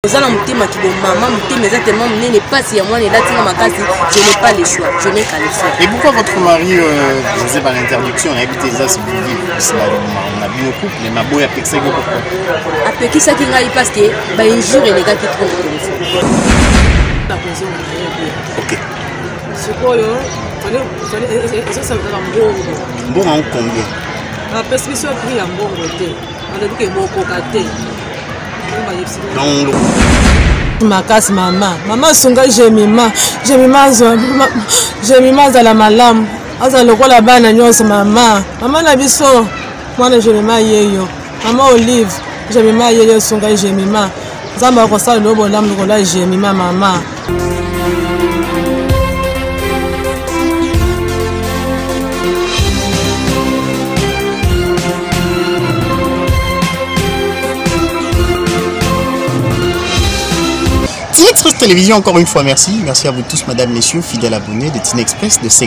oza na motema kibo mama motema eza tellement monene pasi ya mwana elati nga makasi je n'ai pas le choix je n'ai qu'à le faire et pourquoi votre mari euh, je sais pas l'interdiction nayebi te eza sibili na bino couple mais maboye apekisaki yo pourquoi apekisaki ngai parce que bainjure elekaki trop ok sikoyo ezosalaka mbongo mbongo yango combien apesi biso prix ya mbongo te alobi ke bokoka te makasi mama mama asunga jemima jemima azwa jemima azala malamu azala lokola bana nyonso mama mama na biso mwana jemima yeyo mama olive jemima yeyo asunga jemima nzambe akosala lelo bolamu lokola jemi ma mama Tinex Express Télévision, encore une fois, merci. Merci à vous tous, madame, messieurs, fidèles abonnés de Tinex Express, de ces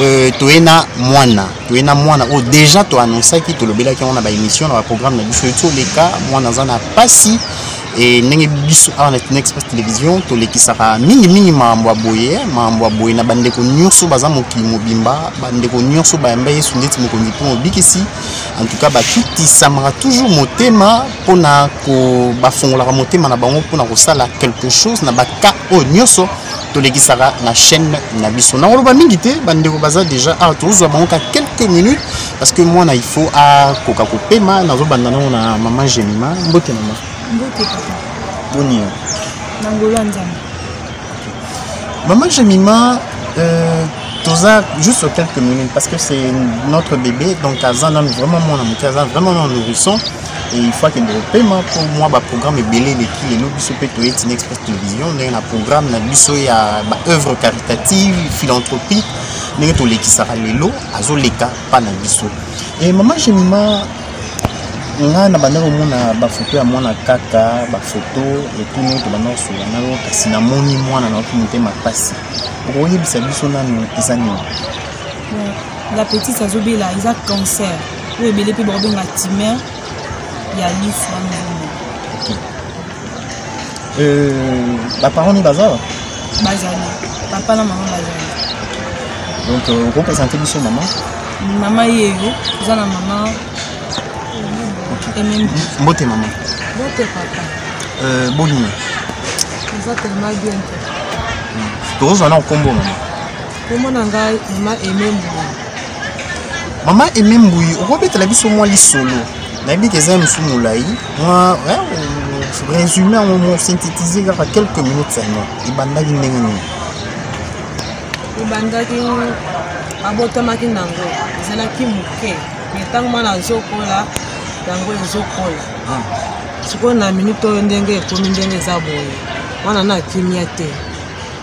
Euh, toye na mwana toye na mwana oyo déjà toannonsaki tolobelaki yango na baémission na baprogramme na biso eti oleka mwana aza na mpasi e ndenge biso awa na tuna express télévision tolekisaka mingimingi makambo ya boye makambo ya boye na bandeko nyonso baza mokili mobimba bandeko nyonso bayamba yesu ndeti mokonzi mpo mobikisi en tout cas bakitisamaka toujours motema mpo na bafongolaka motema na bango mpo na kosala quelque chose na baka oyo nyonso tolekisaka na chaîne na biso nakoloba mingi te bandeko baza déjà awa ah, tozwa bango ka quelques minutes parce que mwana il faut akoka kopema nazobanda nango na mama gemima mbote mama boni yo mama gemima euh, toza juste quelques minutes parce que c'est notre bébé donc aza nanu vraiment mwana moke aza vraiment na nourrisson ifo akende kopema mpo mwa baprogramme ebele eleki lelo biso mpe toye tina express télévision ndenge na programme na biso ya baœuvre caritative philanthropique ndenge tolekisaka lelo azoleka mpa na biso e mama gemima nga na banda komona bafoto ya mwana kaka bafoto etuni oyo tobanda kosola na yo kasi namoni mwana naoki motema mpasi okoyebisa biso nanu eza nini la petite azobela eza cancer oyo ebele mpe bakobenga timer ya lisu ya mizombo baparent ni baza bazali papa na mama bazali donc euh, okopresente biso mama mama yeyo oza na mama mbote mama mbote papa euh, bonini oza telema bien te tokozwa na nkombo mama Kombo na ngai mama Aime Mbuyi. Mama Aime Mbuyi, okobetela biso mwa lisolo. Nayebi ke eza mosu molai, mwa resume yango mo synthétiser kaka quelques minutes seulement. Ebandaki ndenge nini? Ebandaki abotamaki nango ezalaki moke me ntango mwana azokola yango ezokola ah. sikoyo na minute oyo ndenge ekomi ndenge eza boye mwana na kimia te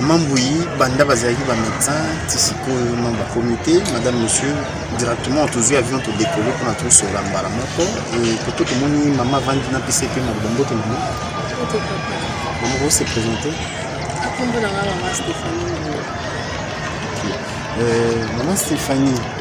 mambuyi banda bazalaki bamédecin ti sikoyo no bakomi te madame monsieur directement tozwi avion todekole mpona tosola mbala moko koto tomoni mama avandi na pc mpe maloba mbote mama mama ose présente mama stéphanie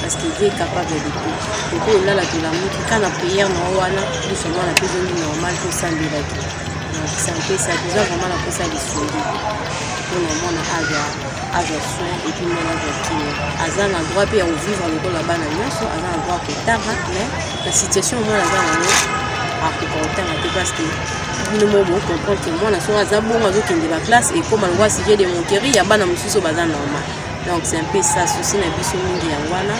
parce que Dieu est capable de tout. Et puis là, la tolamuki, quand la prière na wana, tout seulement la plus de normal que ça de la vie. Donc c'est un peu ça, déjà vraiment la ça de sourire. Pour le monde aga aga soin et puis mon aga qui aza na droit pe ya vivre le la bana nyoso, aza na droit ko tara, mais la situation moi aza na yo a ko kotanga te parce que bino mo bo comprendre que mwana soki aza bongo azokende ba classe ekoma longwa sujet de moquerie ya bana mosusu baza normal donc c'est un peu ça souci na biso mingi yango wana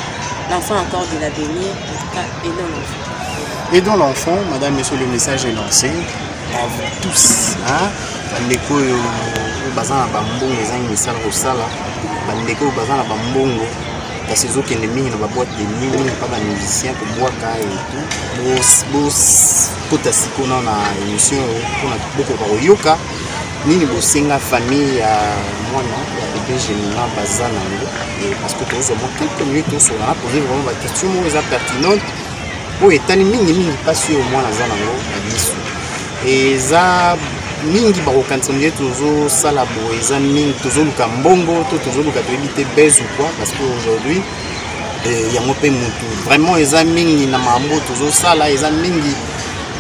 l'enfant encore de l'avenir en tout cas aidons l'enfant aidons l'enfant madame monsieur le message est lancé à vous tous hein? bandeko oyo baza na bambongo ezangi misala kosala bandeko oyo baza na bambongo kasi ezokende mingi na baboite de nuit mingi mpa bamusicien kobwaka etout bokota sikoyo na émission oyo mpona bokoka koyoka nini bosenga famille ya mwana ya bebe gemina baza na yango parce que tozwa mwa quelques minutes tosolana poze vraiment baquestion moko eza pertinente oyo etali mingimingi mpasi oyo mwana aza na yango na biso eza mingi bakokanisa ndenge tozosala boye eza mingi tozoluka mbongo to tozoluka toyebi te base ou quoi parce que aujourd'hui eh, yango mpe motu vraiment eza mingi na mambo tozosala eza mingi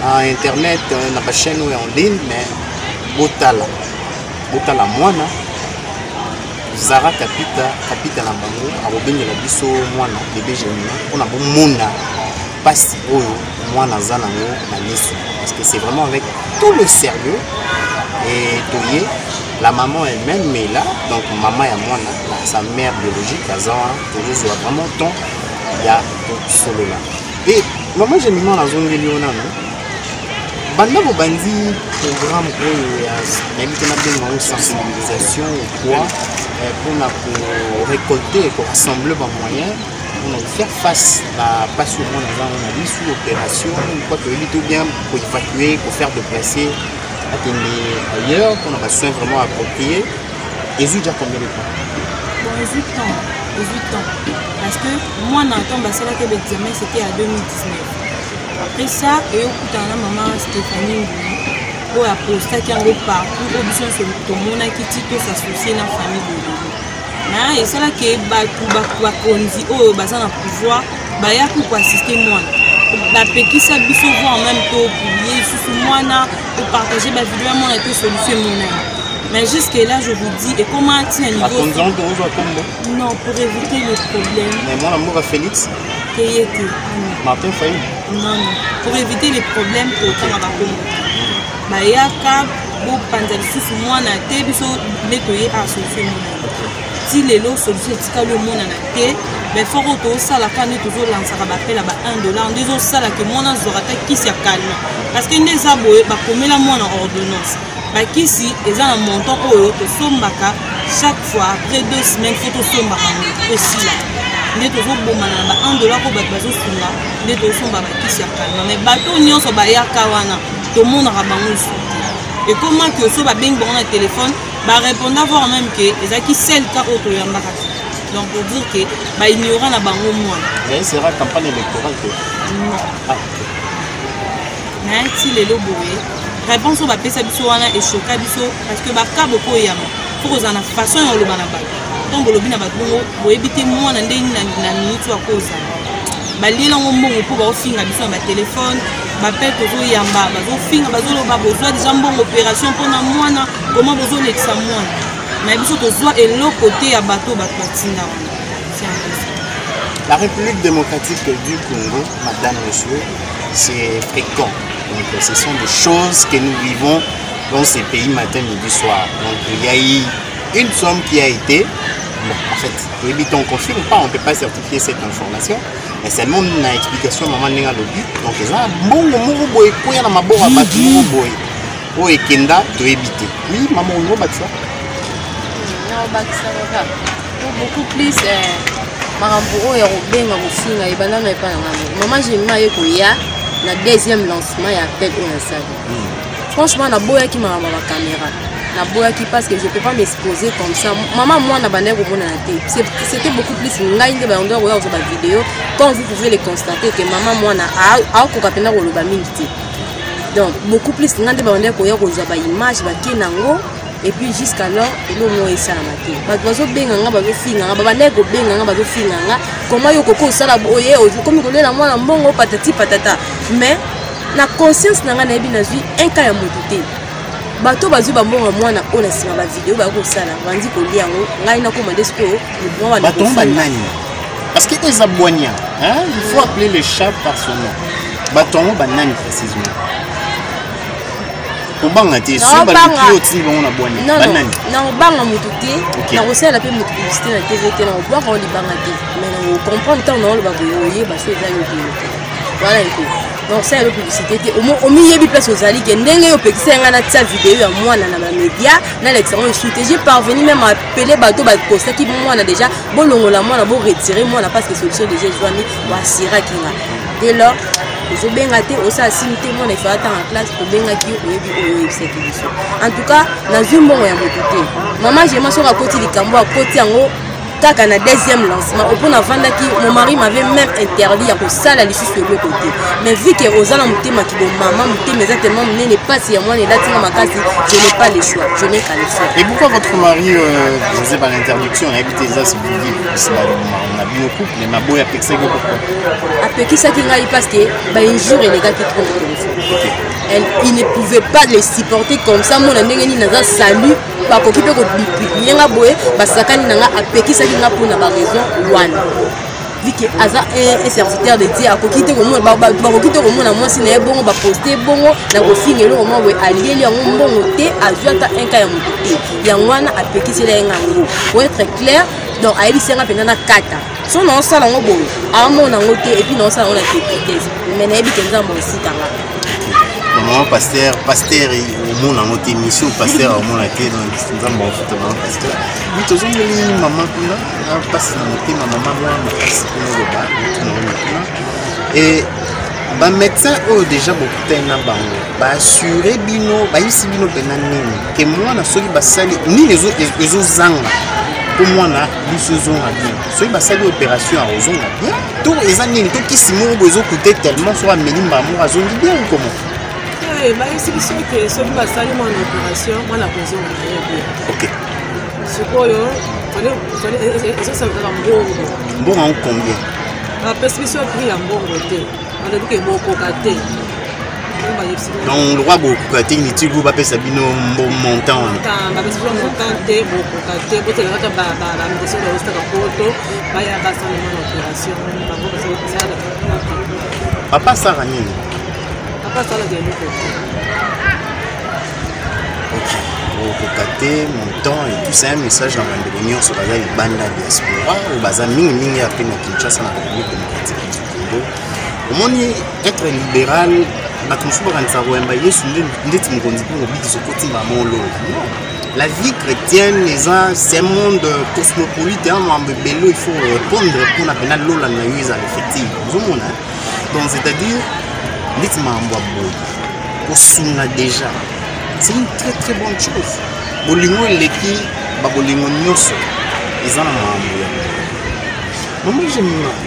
na internet eh, na bachaine oyo en ligne mais botala botala mwana zara kapita kapita na bango akobengela biso mwana bebe janina mpona bomona mpasi oyo mwana aza nango na miso parce que c'est vraiment avec tout le sérieux et toye la maman elle-même mais là donc mama ya mwana sa mère biologique aza wana tozozwa vraiment temps ya kosolola e mama janina nazongeli yo nano banda bobandi programme oyo ya nayebi te nabenga yango sensibilisation quoi mpona eh, korecolte korassemble bamoyen mpona kofaire face na mpasi omona ezango na bisu opération mpo toyebi to bien koevacue kofaire déplace akende ailleurs mpona basoin vraiment approprié ezwi déjà combien de temps bon ezwi temps ezwi temps parce que mwana ntango basalaki baexamen c'était à 2019 après ça eyokutana na mama stéphanie ngulu oyo apostaki yango partout oyo biso nyonso tomonaki ti tosassocie na famille bololo na esalaki bato bakonzi oyo baza na pouvoir bayaki koassiste mwana bapekisa biso voir meme topublie lisusu mwana topartage bavideo ya mwana te solution emonani mais jusque là je vous dis ekoma ntina niveau non pour éviter le problème mais mwana mboka félix Payé te. Martin Faye Non, non. Pour éviter les problèmes, tokanga bakongo. Bayaka, bopanza lisusu mwana te biso nde toye asolution monana ti lelo solution etikali omonana te baeffort oyo tosalaka nde tozolansaka bapel ya ba 1 dollar nde ezosala ke mwana azwaka ata kisi ya kalma parce que nde eza boye bakomela mwana ordonnance bakisi eza na montant oyo tosombaka chaque fois après deux semaines fo tosombaka yango esila nde tozobomana na ba 1 dollar oyo bato bazosunga nde tozosomba bakisi ya kalma mai bato nyonso bayaka wana tomonaka bango lisusu te ekoma ke so babengi bango na telefone bareponda voir même ke ezalaki sel ka oyo toyambaka te donc pour dire ke baignorant na bango mwana nayesera campagne électorale te ah. na ti lelo boye réponse oyo bapesa biso wana echoka biso parce que baka bokoyama fo kozala na façon ya oloba na bato ntango bolobi na bato bongo boyebi te mwana nde nini na miniti ya kozala baliela yango mbongo mpo baofinga biso na batelefone bapele tozoyamba bazofinga bazoloba bozwa deja mbongo opération mpo na mwana koma bozolekisa mwana na biso tozwa eloko te ya bato bato batinda wana La République démocratique du Congo, Madame, Monsieur, c'est fréquent. Donc ce sont des choses que nous vivons dans ces pays matin, midi, soir. Donc il y a eu une somme qui a été, bon, en fait, oui, on ne confirme pas, on ne peut pas certifier cette information, mais seulement une explication maman ndenge alobi donc eza na mbongo moko boye ekweya na maboko ya bato moko boye oyo ekenda toyebi te oui mama olingo bakisa naobakisaka kaka beaucoup plus eh, makambo oyo ya kobenga kofinga ebanda na epai na ngai mama jemima ye koya na deuxième lancement ya appel oyo nasali hmm. franchement naboyaki makambo ya bakamera naboyaki parce que je peux pas m'exposer comme ça mama mwana bandaki komonana te c'était beaucoup plus ngai nde bayondo yakoya kozwa bavideo comme vous pouvez le constater que mama mwana akoka mpenza koloba mingi te donc beaucoup plus ngai nde bayondo yakoya kozwa baimage bake nango et puis jusqu'alors eloko moko esalama te bato bazobenga nga bazofinga nga babandaki kobenga nga bazofinga nga koma yo okoki osala boye okomi kolela mwana mbongo patati patata mais na conscience na ngai nayebi nazwi un cas ya moto te bato bazwi bambongo ya mwana oyo na nsima bavideo bayoki kosala bandi kolia yango ngai nakoma nde sikoyo bato banani parce que eza bwania il faut appeler le chat par son nom bato yango banani précisément kobanga te nakobanga motu te nakosala mpe motu publicité na tv te nakobwaka o libanga te mais nakokomprendre ntango naoloba boye oyeba so eza yo boye te wana eko nakosala yo publicité te omiyebi place ozali ke ndenge yo opekisa yanga natia video ya mwana na bamédia nalekisa yango esu te je parvenu même apele bato bakostaki mwana déjà bolongola mwana boretire mwana parce que solution déjà ezwami boasiraki nga dès lors ozobenga te osala sini te mwana efaa ntanga classe tobengaki yo oyebi oyo oyebisaki biso en tout cas nazwi mbongo ya moto te mama gema soki akoti likambo akoti yango kaka na deuxième lancement opo navandaki mon mari m'avait même interdit ya kosala lisusu eloko te mais vu ke oza na motema kibo mama motema eza tellement monene mpasi ya mwana elatinga makasi je n'ai pas le choix je n'ai qu'à le faire et pourquoi votre mari euh, faisait pas l'interdiction nayebi te eza civili na bioku me maboya apekisaki yo pourquoi apekisaki ngai parce que bainjour elekaki trop na téléphone elle il ne pouvait pas les supporter comme ça mona ndenge nini naza salut bakoki mpe kobipiye nga boye basakani na nga apekisaki nga mpo na baraison wana vike aza un serviteur de dieu akoki te komona bakoki te komona mwasi na ye bongo baposte bongo na kofinga eloko mwa boye alieli yango mbongo te azwi ata un ka ya moto te yango wana apekisela ye ngango po etre claire donc ayebisi yanga mpenza nakata so naosala yango boye amona yango te epuis naosala yango na tepitese mai nayebi ke nzambe osikanga mama paster paster omona yango te misio paster aomona te nzambe afuta mama paster bi tozongeli mama kuna na mpasi na motema mama mwa makasi kuna loba tunango kuna e bamédecin oyo déjà bokutani na bango baassure bino bayebisi bino mpena nini ke mwana soki basali nini ezozanga mpo mwana biso ezonga bien soki basali opération akozonga bien to eza nini to kisi moko bo ezokute tellement soki ameli mbala moko azongi bien okomo eh, bayebisi biso ke soki basali mwana opération mwana akozonga na ye bien ok sikoyo ezosala kaka mbongo mbongo yango combien bapesi biso prix ya mbongo te donc lokwa bokoka te mitilu bapesa bino mbo montant wana papa asala nini bokoka te montant et tout ça un message na bandeko nyonso baza libanda diaspora oyo baza mingimingi ape na kinshasa na république démocratique Congo omoni etre libéral bato mosusu bakanisa koyamba yesu ndeti mokonzi mpo kobikisa okotimba molo la vie chrétienne eza ce monde cosmopolite ya mambo ebele il faut répondre mpona mpena lola na yo ezala effective ozomona donc c'est-à-dire ndeti mambo ya boye kosunga déjà c'est une très très bonne chose bolingo eleki babolingo nyonso eza na mambo ya mama jemima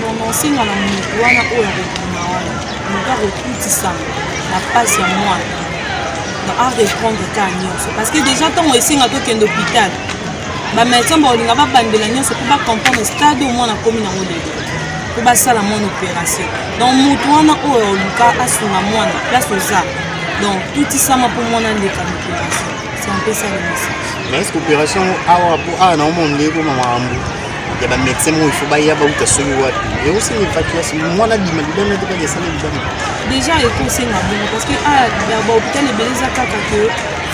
nononsenga na moto wana oyo akokima wana moto akokutisama na mpasi ya mwana na a reprendre ka nyonso parce que déjà ntango esenga tokende hôpital bamédecin bakolinga babandela nyonso mpo bacomprendre stade oyo mwana akomi nango lelo mpo basala mwana opération donc moto wana oyo oluka asunga mwana place oza donc tutisama mpo mwana aleka na opération c'est un peu ça le message mais est ce que opération awa mpo awa naomona ndeko mama ambu ya ba médecin moko ifo baya bauta soki wapi ekosenga evacuation mwana bima libanda te kaka esala libanda déjà ekosenga bongo parce que ah, ya bahopital ebele eza kaka ke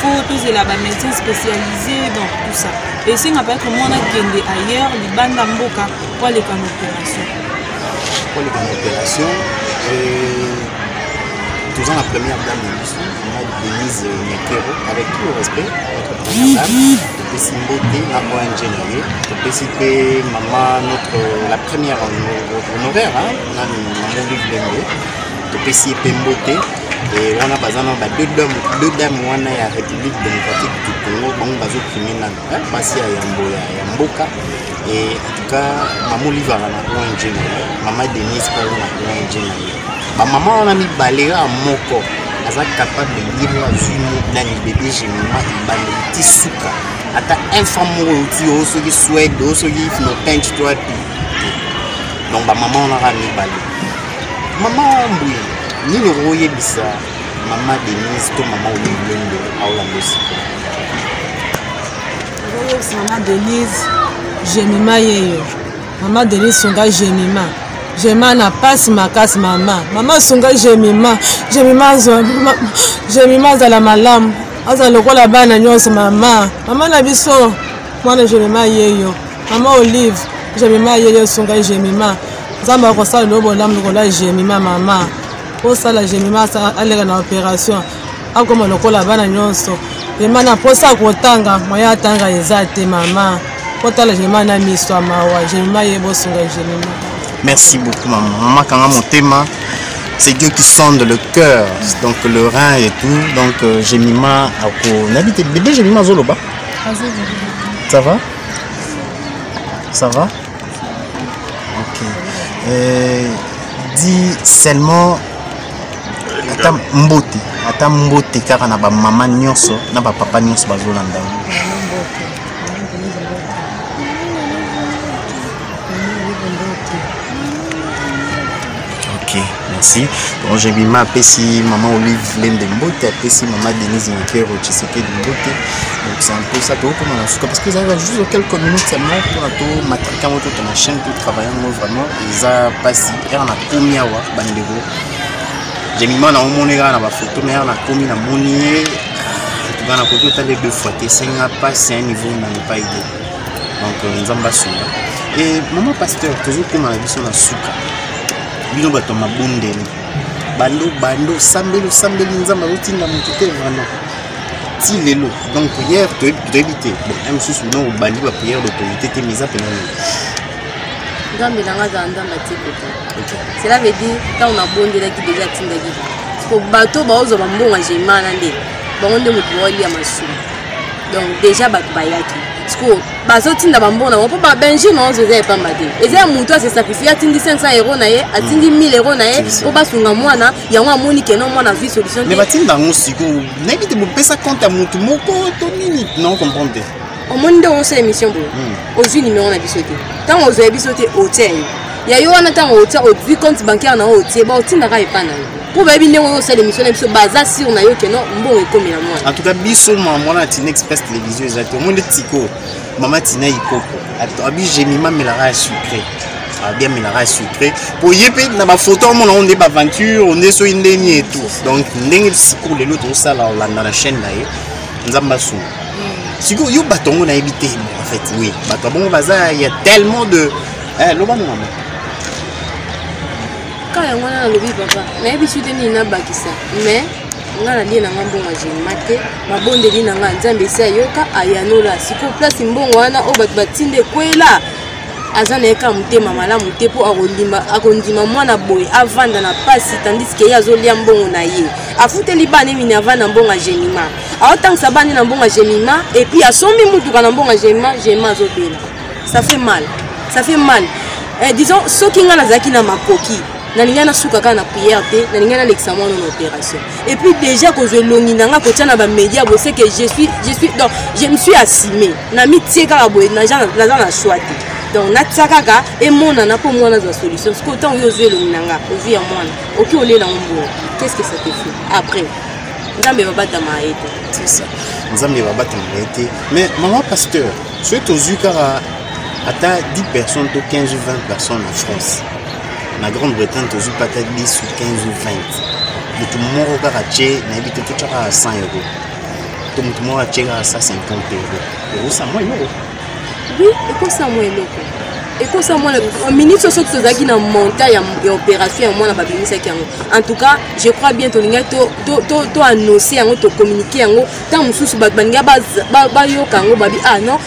fo tozela ba médecin spécialisé donc tout ça esenga peut-être mwana kende ailleurs libanda mboka po aleka na opération po aleka na opération toza na première dame na biso mama denise mekero avec tout le respect notre première dame topesi mbote na ong na ye topesi mpe mama notre la première honoraire nani mamoli bilenge topesi ye mpe mbote wana baza na ba deux dame wana ya république démocratique du congo bango bazoprime nano basi ya yambo ya mboka Et en tout cas, maman Oliva na ONG na ye, maman Denise Paul na ONG na ye. Ba maman wana mibale ya moko aza capable ye moko azwi nani bebe gemima ebandeli ti suka ata infant moko euti yo soki swede o soki philopince to api donc bamama wana kaka mibale mama mbuye nini okoyebisa mama denise to mama olilendo aolanda esika ozoyebisa mama denise jemima yeyo mama denise sunga jemima jemima na mpasi makasi mama mama sunga jemima jemima azwa jemima azala malamu azala lokola bana nyonso mama mama na biso mwana jemima yeyo mama olive jemima yeyo sunga jemima nzambe akosala loo bolamu lokola jemima mama osala jemima aleka na operation akoma lokola bana nyonso vraimen na mposa kotanga moyen atanga eza te mama kotala vraimen na miso ya mawa vraimen ye bosunga vraimen merci beaucoup mama mama kanga motema c'est Dieu qui sonde le cœur, donc le rein et tout. Donc euh, Jemima Ako. Nabi, t'es bébé Jemima Zoloba Ça va Ça va Ok. Euh, dis seulement ata mbote ata mbote kaka na bamama nyonso na bapapa nyonso bazolanda ok merci donc jebima apesi mama olive lembe mbote apesi mama denise nkero tshisekedi mbote donc c'est un peu ça tokokoma na suka parce que ezalaka juste quelques minutes seulement mpona tomatrika yango to tona chaîne to travaille yango vraiment eza mpasi yaka nakomi awa bandeko jemima na omoni kaka na bafoto me yaka nakomi namoni ye antuka nakoki otala ye deux fois te esenga mpasi ya niveau na epai te donc euh, nzambe asunga e mama pasteur tozokoma na biso na suka bino bato ya mabondeli bando bando osambeli osambeli nzambe azotinda moto te vraiment ti lelo donc prière toyebi te bon ya mosusu bino obandi baprière d'autorité te mais eza pena nini nzambe na ngai azala nzambe atikota cela veut dire ntango nabondelaki deja atindaki po bato baozwa bambongo ya gemana nde bango nde moto baolia masumu donc deja bato bayaki sikoyo bazotinda bambongo nango mpo babenjur na ozo eza ya pamba te eza ya moto asesakrifie atindi 500 euro na ye atindi 1000 mm. euro na ye mpo basunga mwana yango amoni keno mwana azwi solution te batinda yango sikoyo nayebi te bopesa compte ya motu moko to nini na ocomprendre te omoni nde osa émission boye hmm. ozwi numéro na biso te ntango ozwa biso te otia ye ya yo wana ntango otia ozwi compte bancaire na yo otie baotindaka epa na yo mpo bayebi ndenge oyo osala émission na biso baza sur na yo keno mbongo ekomela mwana en tout cas biso mwana tina express télévision eza te omoni tiko mama tina ikoko abi gemima melaka ya sucre bien melaka ya sucre mpo ye mpe na bafoto omona yango nde baaventure nde soki ndeni etu donc ndenge sikoyo lelo tozosala olanda na chaîne na ye nzambe asunga sikoyo yo bato yango nayebi te en fait oui bato ya bongo baza ya tellement de eh, loba na mama kaka yango wana nalobi papa nayebi su te nini nabakisa mais nga nalie na nga mbongo ya genima te mabondeli na nga nzambe esi ayoka ayanola sikoyo place mbongo wana oyo bato batinda ekwela aza na ye kaka motema malamu te mpo akondima mwana boye avanda na mpasi tandis ke ye azolia mbongo na ye afuteli bana emini avanda mbongo ya gemima aotangisa bana na mbongo ya gemima epuis asombi motuka na mbongo ya gemima gemima azobela ça fait mal ça fait mal eh, disons soki ngai nazalaki na makoki nalingai nasuka kaka na prière te nalingai nalekisa mwana na opération et puis déjà kozwa elongi na ngai kotia na bamédia boye seke je suis je suis donc je me suis assime namitie kaka boye naza na choix te donc natia kaka emonana mpo mwana azwa solution sikoyo ntango yo ozwi elongi na ngai ozwi ya mwana oki olela ngo mboyo qu'est ce que ça te fait après nzambe babatama ye te c'est ça nzambe babatama ye te mais mama pasteur soki tozwi kaka ata 10 personnes to 15 ou 20 personnes en france na grande bretagne tozwi pata 10 ou 15 ou 20 motu moko kaka tye nayebi te totya kaka 100 euro to motu moko atye kaka 150 euro ekosa mwa eloko oui ekosa mwa eloko ekosa mwana minute oyo soki tozalaki na monta ya opération ya mwana babimisaki yango en tout cas je crois bien tolingaki toannonce yango tocommunike yango ntango mosusu bato balinga bayoka yango babi ah non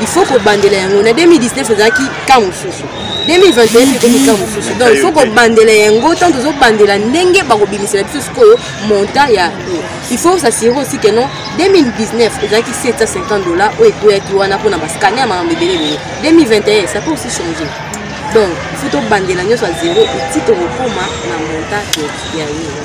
il faut kobandela yango na 2019 ezalaki ka mosusu 2021 ekomi ka mosusu donc il faut kobandela yango ntango tozobandela ndenge bakobimisela biso sikoyo montant ya il faut s'assurer aussi que non 2019 ezalaki 750 dollars oyo ekweyaki wana mpona bascanne ya makambo ebele ebele 2021 ça peut aussi changer donc il faut tobandela nyonso ya zero eti tokokoma na montant ya yo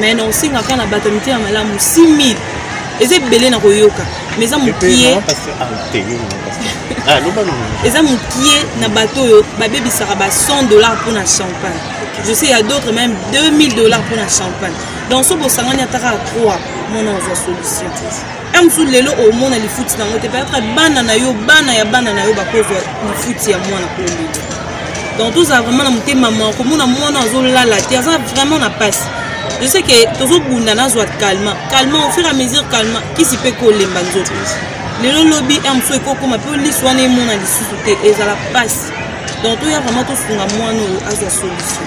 mais na osenga kaka na bato ya mitema malamu 6000 eza ebele na koyoka mais eza mokie eza mokie na bato oyo babebisaka ba 100 dollars mpo na champagne je sais ya d'autres même 2000 dollars mpo na champagne donc so bosangani ata kaka 3 mona ozwa solution ya mosusu lelo omona lifuti na yango te peut-être bana na yo bana ya bana na yo bakozwa lifuti ya mwana kolelo donc tozala vraiment na motema ma komona mwana azolala te aza vraiment na mpasi je sais ke tozobunda nazwa calma calma au fur à mesure calma kisi mpe kolemba nzoto lelo lobi ya mosusu ekokoma mpe liso wana emona lisusu te ezala mpasi donc toya vraiment tosunga mwana oyo azwa solution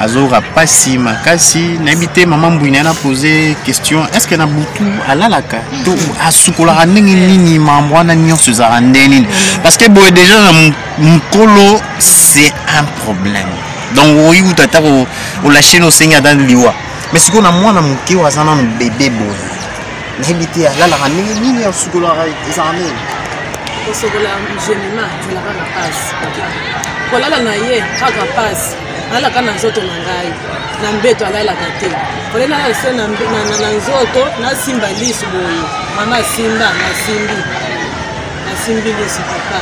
azoyoka mpasi makasi nayebi te mama mbui naye na pose question est-ce que na butu alalaka to asukolaka ndenge nini mambo wana nyonso ezalaka ndenge nini parce que boye déjà na mokolo c'est un problème donc okoki kuta ata olasheni osengi ata liwa mais sikoyo na mwana moke oyo aza nano bebe boye nayebi te alalaka ndenge nini asukolaka ezalaka nini kosokola gemima ezalaka na pasi kolala na ye kaka pasi alalaka na nzoto na ngai na mbeto alalaka te ole nalala se na nzoto nasimba lisu boye mama asimba nasimbi nasimbi yesu papa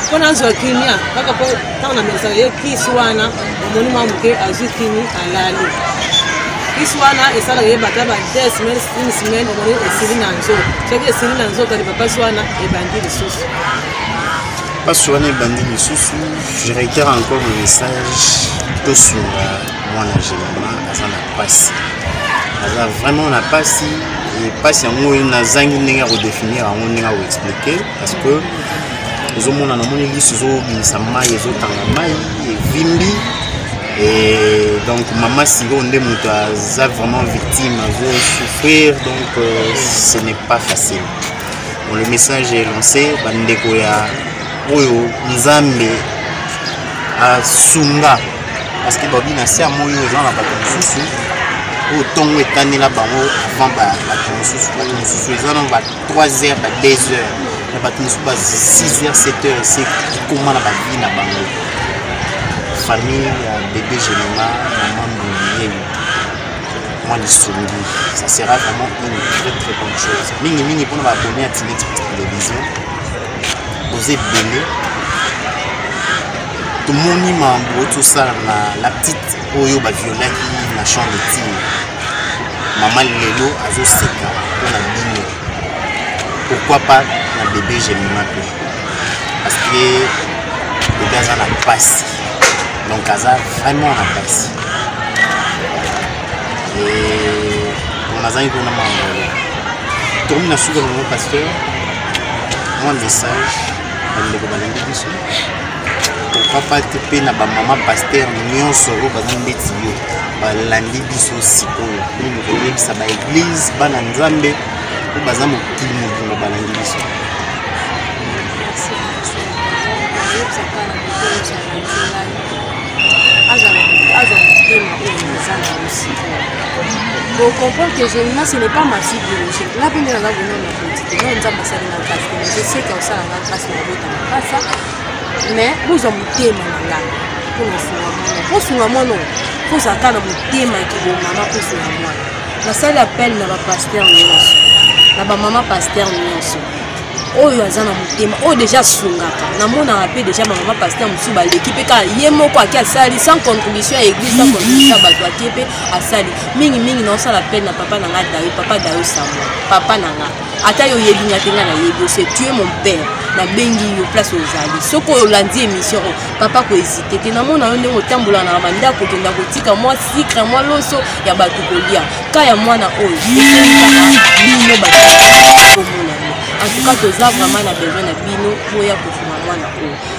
mpo nazwa kimia kaka mpo ntango namelisa ye kisi wana omoni mwa moke azwi kimi alali kisi wana esalaka ye bata ba de semaine une semaine omoni esili na nzoto soki esili na nzoto lipapasi wana ebandi lisusu mpasi wana ebandi lisusu je reitere encore le message tosunga mwana gemama aza na mpasi aza vraiment na mpasi mpasi yango nazangi ndenge ya kodefinir yango ndenge ya koexplike parce que ezomona namoni lisu ezobimisa mai ezotanga mai evimbi Et donc maman Siro nde moto aza vraiment victime azo souffrir donc euh, ce n'est pas facile bon, le message est lancé bandeko ya oyo nzambe asunga parce que babi na se ya moi oyo eza na bato mosusu oyo ntongo etanela bango avant bato mosusu bato mosusu eza na ba 3 heures ba 2 heures na bato mosusu ba 6 heures 7 heures ese ekoma na bavi na bango famille ya bebe genema mama mboniyei mwa lisongi ça sera vraiment une très très bonne chose mingimingi mpona baabonne ya tinex télévision boza ebele tomoni mambo tosala na la petite oyo baviolaki na champ de tine mama lelo azoseka mpo na bino pourquoi pas na bebe gemima mpe parce que bebe aza na mpasi donc aza vraiment na mpasi nazangi kuna mambo tokomi na suka nango pasteur mwa message bandeko balandi biso papa te mpe na bamama paster nyonso oyo baza ndeti yo balandi biso sikoyo mpe mokoyebisa baeglize bana nzambe mpo baza mokili mobimba balandi biso azwa motema oyo eza na mosika bokomprendre que je na ce n'est pas ma fille biologique nga mpe nde naza bonona Nzete oyo nzambe asali nga grâce te mais eseka osala nga grâce na obota mapasa mais bozwa motema na nga mpo na osunga mwana mpo osunga mwana oyo mpo ozalaka na motema ya kibomama mpo osunga mwana nasali appel na bapaster nyonso na bamama paster nyonso oyo aza na motema oyo deja asungaka namonaka mpe deja bamama paster mosusu baleki mpe kaka ye moko ake asali sans contribution ya église sans contribution ya bato ake mpe asali mingi mingi naosala pene na papa na nga dayo papa dayo sambo papa na nga ata yo oyebi nga te nga nayebi ose tu es mon père nabengi yo place ozali soki olandi émission oyo papa kohésite te namona yo ndenge otambola na bandako okenda kotika mwa sikre mwa loso ya bato kolia ka ya mwana oyo bino bato komona en tout cas toza vraiment na besoin na bino boya kofuma mwana oyo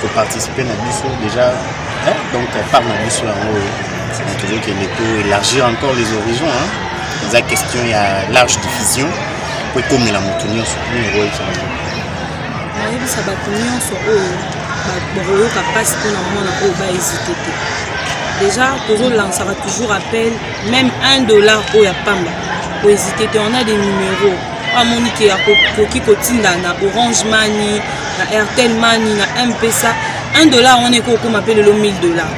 koparticipe na biso déjà hein? donc part na biso yango oyo tozokende to élargir encore les horizons hein? eza question ya large diffusion mpo ekomela moto nyonso nini ekoyebisa bango nayebisa bato nyonso oyo bakoyoka mpasi mpo na mwana oyo baezite te déjà tozolansaka toujours appel même 1 dollar oyo ya pamba koezite te on a des numéros amoni ke akoki kotinda na orange mani na airtel mani na mpesa 1 dollar wana ekoki kokóma mpe lelo 1000 dollar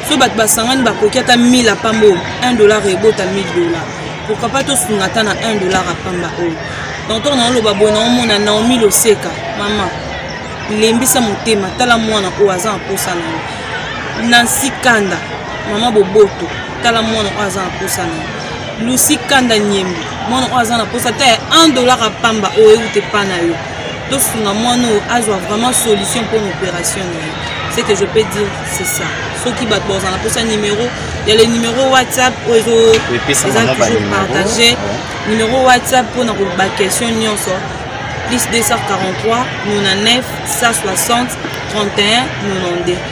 so bato basangani bakoki ata 1000 apamba oyo 1 dollar ebota 1000 dollar pourkui pas tosunga ata na 1 dollar apamba oyo donc ntango naoloba boye naomona naomi loseka mama lembisa motema tala mwana oyo aza na mposa na yo nansi kanda mama boboto tala mwana oyo aza na posa na lusi kanda nyembo mwana oyo aza na posa te 1 dollar ya pamba oyo euta epa na yo tosunga mwana oyo azwa vraiment solution mpo na opération na ye ce que je peux dire c'est ça soki bato baoza na mposa numéro ya le numéro whatsapp oyo eza toujours partage numéro whatsapp mpo na koba question nyonso plus 243 99 160 31 92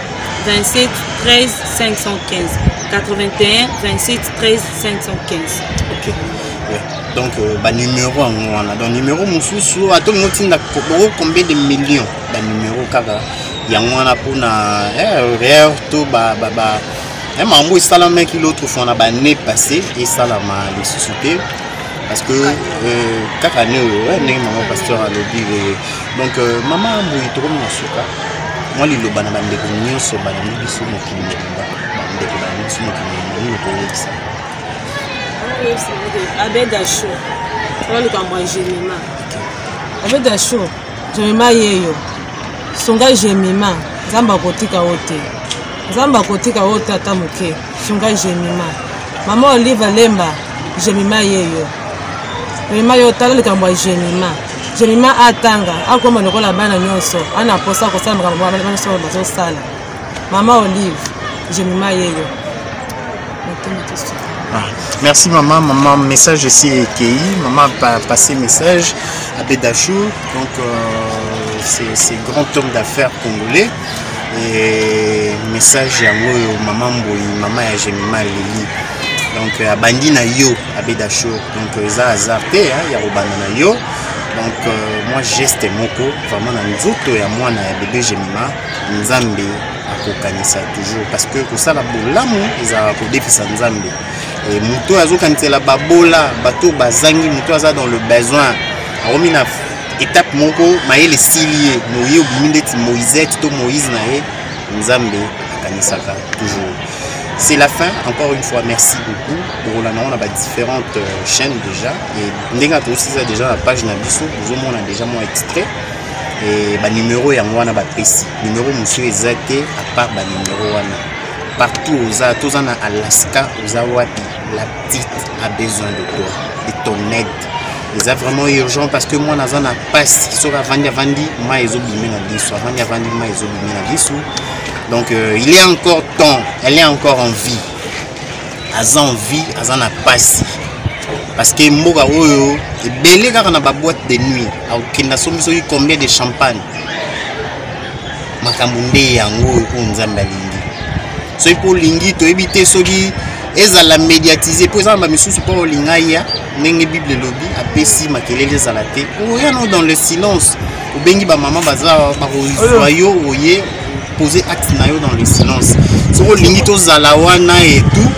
27 13 515 81 27 13 515 okay. yeah. donc euh, banumero yango wana donc numero mosusu ata olingi otinda boko combien de million banumero kaka yango wana mpona rare eh, to ba, ba, ba, eh, makambo esalamaki l'autre fois na bannée passé esalama lisusu te parce que euh, kaka ne oyo eh, ndenge mama pasteur alobi donc euh, mama boye tokomi na suka mwa liloba na bandeko nyonso balandi biso mokili mobimba bandeko balandi biso mokili mobimba nini koyebisa abeda sho oyo likambo ya gemima abeda sho gemima yeyo sunga gemima nzambe akotika yo te nzambe akotika yo te ata moke sunga gemima mama olive lemba gemima yeyo gemima yo tala likambo ya gemima Jonima atanga akoma lokola bana nyonso ana posa kosala makambo bana nyonso bazosala mama olive jonima yeyo ah, merci mama mama message esi ekei mama passe message abedachou donc euh, c'est grand homme d'affaires congolais et message yango oyo mama mboyi mama ya jonima leli donc euh, abandi na yo abeda show donc euh, eza hasard te ya kobanda na yo donc euh, mwa geste moko vraiment na nzoto ya mwana ya bebe gemima nzambe akokanisa toujours parce que kosala bolamu ezalaka kodefisa nzambe e, moto oyo azokanisela babola bato bazangi moto aza dans le besoin akomi na étape moko mayele esili ye moye obimi ndeti moisete to moïse na ye nzambe akanisaka toujours c'est la fin encore une fois merci beaucoup tokolanda yango na ba différentes euh, chaînes déjà et ndenge atosisa déjà na page na biso bozomona déjà mwa extrait e banimero yango wana bapesi nimero mosusu eza te apart banimero wana partout oza toza na alaska oza wapi la petite a besoin de toi de ton aide eza vraiment urgent parce que mwana aza na pasi soki avandi avandi mai ezobime na lisu avandi avandi mai ezobime na lisu donc euh, il est encore temps elle est encore en vie aza en vie aza na pasi parce que mboka oyo ebele kaka na baboite de nuit akokenda somi soki combien de champagne makambo nde yango oyo oyo nzambe alingi soki mpo olingi toyebi te soki ezala médiatise mpo ezala bamisusu mpo olinga ya ndenge bible elobi apesi makelele ezala te oya no dans le silence obengi bamama baza bakozwa yo oye poser acte na yo dans le silence soki olingi tozala wana et tout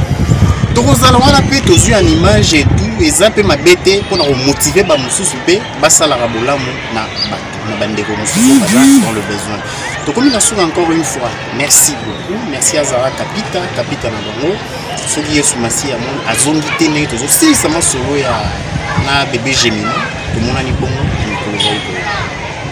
tokozala wana mpe tozwi en image et tout eza mpe mabe te mpo na komotive bamosusu mpe basalaka bolamu na bato na bandeko mosusu baza dans le besoin tokomi na suka encore une fois merci beaucoup merci azala kapita kapita na bango soki yesu masiya moni azongi te ndenge tozosilisa masolo ya na bebe gemina tomonani bongo mikolo zali koya